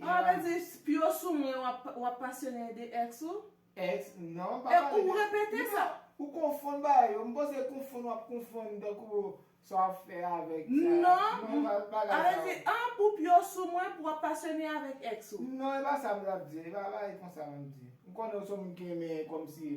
Ou pa vle di p yo sou mwen wap pasyone de ex ou? Ex non m pa pale de. Ou repete sa. Ou konfonn bagay yo. M panse konfonn wap konfonn tankou sa wap fè avèk sa. Non bagay sa yo. An pou p yo sou mwen pou wap pasyone avèk ex ou. Non e pa sa m tap di. E pa bagay konsa m ap di. M konnen ou son moun ki renmen kòmsi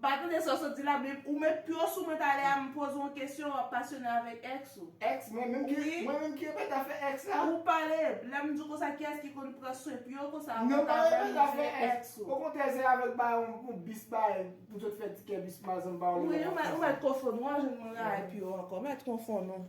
Mpa tande sa w sot di la men ou met pyo sou mwen talè a m poze w yon kesyon wap pasyone avèk ex ou. Ex mwen menm ki mwen menm ki remet afè ex la. Ou pale, lè m di w konsa kiyès ki konn pran swen pyo konsa avan w ta vèm ou di e ex ou. Okontrè se avèk ba yon yon bis ba pou sot fè tikè bis mwa zanm ba w li la map panse. Ou mèt konfonn ou a jwenn mwen rayi pyo ankò, ou mèt konfonn ou.